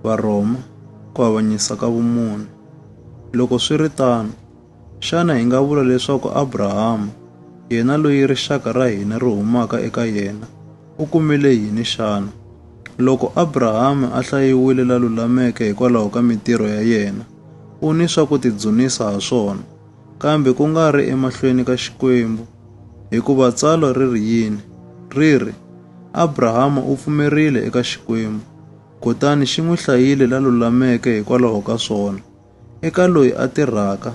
Varhoma ku avanyisa ka vumune. Loko swi ri tano, xana hi nga vula leswaku Abrahama, yena loyi rixaka ra hina ri humaka eka yena, u kumile yini xana? Loko Abrahama a hlayiwile la lulameke hikwalaho ka mitirho ya yena, u ni swa ku tidzunisa ha swona. kambe ku nga ri emahlweni ka Xikwembu. Hikuva tsalwa ri ri yini? Ri ri, Abrahama u pfumerile eka Xikwembu, kutani xi n'wi hlayile la lulameke hikwalaho ka swona. Eka loyi a tirhaka,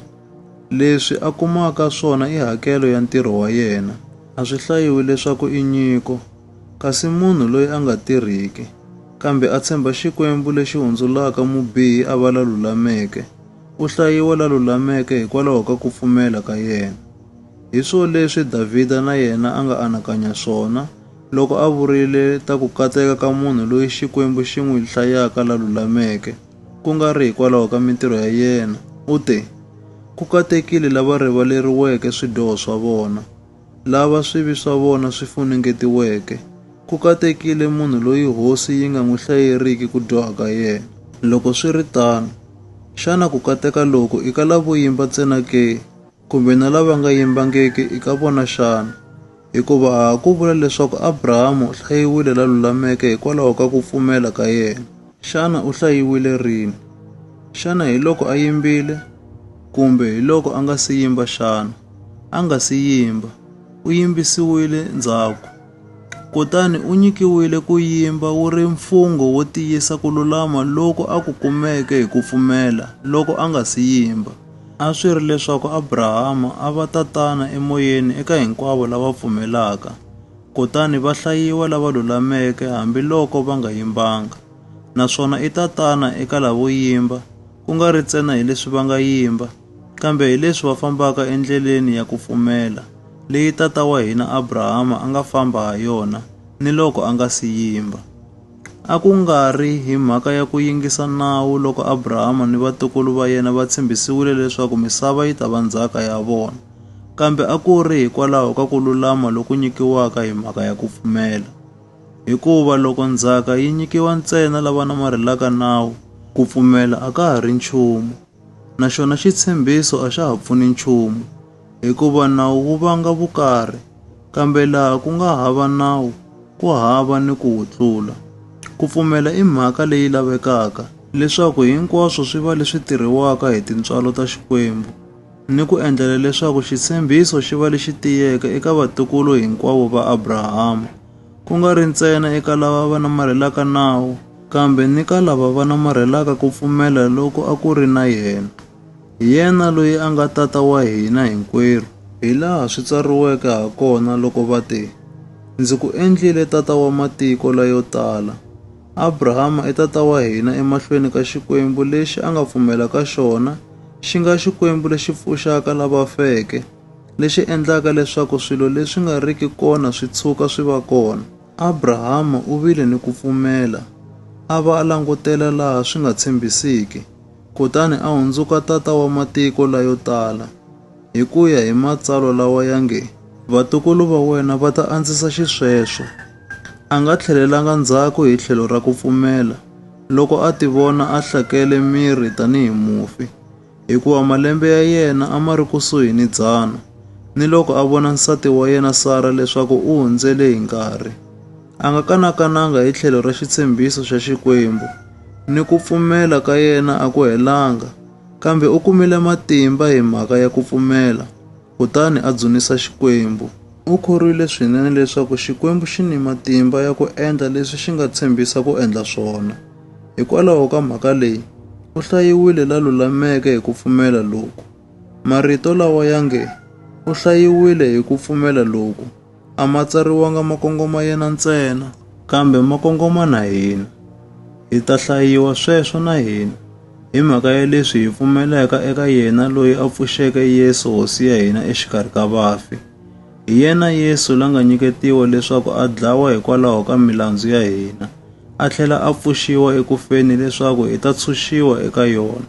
leswi a kumaka swona i hakelo ya ntirho wa yena. A swi hlayiwi leswaku i nyiko, kasi munhu loyi a nga tirhiki, kambe a tshemba Xikwembu lexi hundzulaka mubihi a va la lulameke, U hlayiwa la lulameke hikwalaho ka ku pfumela ka yena. Hi swo leswi Davhida na yena a nga anakanya swona loko a vurile ta ku kateka ka munhu loyi Xikwembu xi n'wi hlayaka la lulameke, ku nga ri hikwalaho ka mintirho ya yena. U te, Ku katekile lava rivaleriweke swidyoho swa vona. lava swivi swa vona swi funengetiweke, ku katekile munhu loyi hosi yi nga n'wi hlayeriki ku dyoha ka yena. Loko swi ri tano, xana ku kateka loku i ka lavo yimba ntsena ke, kumbe na lava nga yimbangiki i ka vona xana? Hikuva a ha ku vula leswaku Abrahama u hlayiwile la lulameke hikwalaho ka ku pfumela ka yena. Xana u hlayiwile rini? Xana hi loko a yimbile? Kumbe hi loko a nga si yimba xana? A nga si yimba, u yimbisiwile ndzhaku. Kutani u nyikiwile ku yimba wu ri mfungho wo tiyisa ku lulama loku a ku kumeke hi ku pfumela loko a nga si yimba. A swi ri leswaku Abrahama a va tatana emoyeni eka hinkwavo lava pfumelaka. Kutani va hlayiwa lava lulameke hambiloko va nga yimbanga, naswona i tatana eka lavo yimba, ku nga ri ntsena hi leswi va nga yimba, kambe hi leswi va fambaka endleleni ya ku pfumela leyi tata wa hina Abrahama a nga famba ha yona niloko a nga si yimba. A ku nga ri hi mhaka ya ku yingisa nawu loko Abrahama ni vatukulu va yena va tshembisiwile leswaku misava yi ta va ndzhaka ya vona. Kambe a ku ri hikwalaho ka ku lulama loku nyikiwaka hi mhaka ya ku pfumela. Hikuva loko ndzhaka yi nyikiwa ntsena lava namarhelaka nawu, ku pfumela a ka ha ri nchumu, naxona xitshembiso a xa ha pfuni nchumu, hikuva nawu wu vanga vukarhi, kambe laha ku nga hava nawu, ku hava ni ku wu tlula. Ku pfumela i mhaka leyi lavekaka, leswaku hinkwaswo swi va leswi tirhiwaka hi tintswalo ta Xikwembu. ni ku endlela leswaku xitshembiso xi va lexi tiyeke eka vatukulu hinkwavo va Abrahama, ku nga ri ntsena eka lava va namarhelaka nawu, kambe ni ka lava va namarhelaka ku pfumela loku a ku ri na yena, hi yena loyi a nga Tata wa hina hinkwerhu. Hi laha swi tsariweke ha kona loko va te, Ndzi ku endlile tata wa matiko layo tala. Abrahama i tata wa hina emahlweni ka Xikwembu lexi a nga pfumela ka xona, xi nga Xikwembu lexi pfuxaka lava feke, lexi endlaka leswaku swilo leswi nga riki kona swi tshuka swi va kona. Abrahama u vile ni ku pfumela, a va a langutela laha swi nga tshembisiki, kutani a hundzuka tata wa matiko layo tala, hi ku ya hi matsalwa lawa ya nge, Vatukulu va wena va ta andzisa xisweswo. A nga tlhelelanga ndzhaku hi tlhelo ra ku pfumela loko a tivona a hlakele miri tanihi mufi, hikuva malembe ya yena a ma ri kusuhi ni dzana, ni loko a vona nsati wa yena Sara leswaku u hundzele hi nkarhi. A nga kanakananga hi tlhelo ra xitshembiso xa Xikwembu, ni ku pfumela ka yena a ku helanga, kambe u kumile matimba hi mhaka ya ku pfumela. kutani a dzunisa Xikwembu. U khorwile swinene leswaku Xikwembu xi ni matimba ya ku endla leswi xi nga tshembisa ku endla swona. Hikwalaho ka mhaka leyi, u hlayiwile la lulameke hi ku pfumela loku. Marito lawa ya nge, u hlayiwile hi ku pfumela loku, a ma tsariwanga ma kongoma yena ntsena kambe ma kongoma na hina hi ta hlayiwa sweswo na hina hi mhaka ya leswi hi pfumelaka eka yena loyi a pfuxeke Yesu hosi ya hina exikarhi ka vafi hi yena Yesu la nga nyiketiwa leswaku a dlawa hikwalaho ka milandzu ya hina a tlhela a pfuxiwa ekufeni leswaku hi ta tshunxiwa eka yona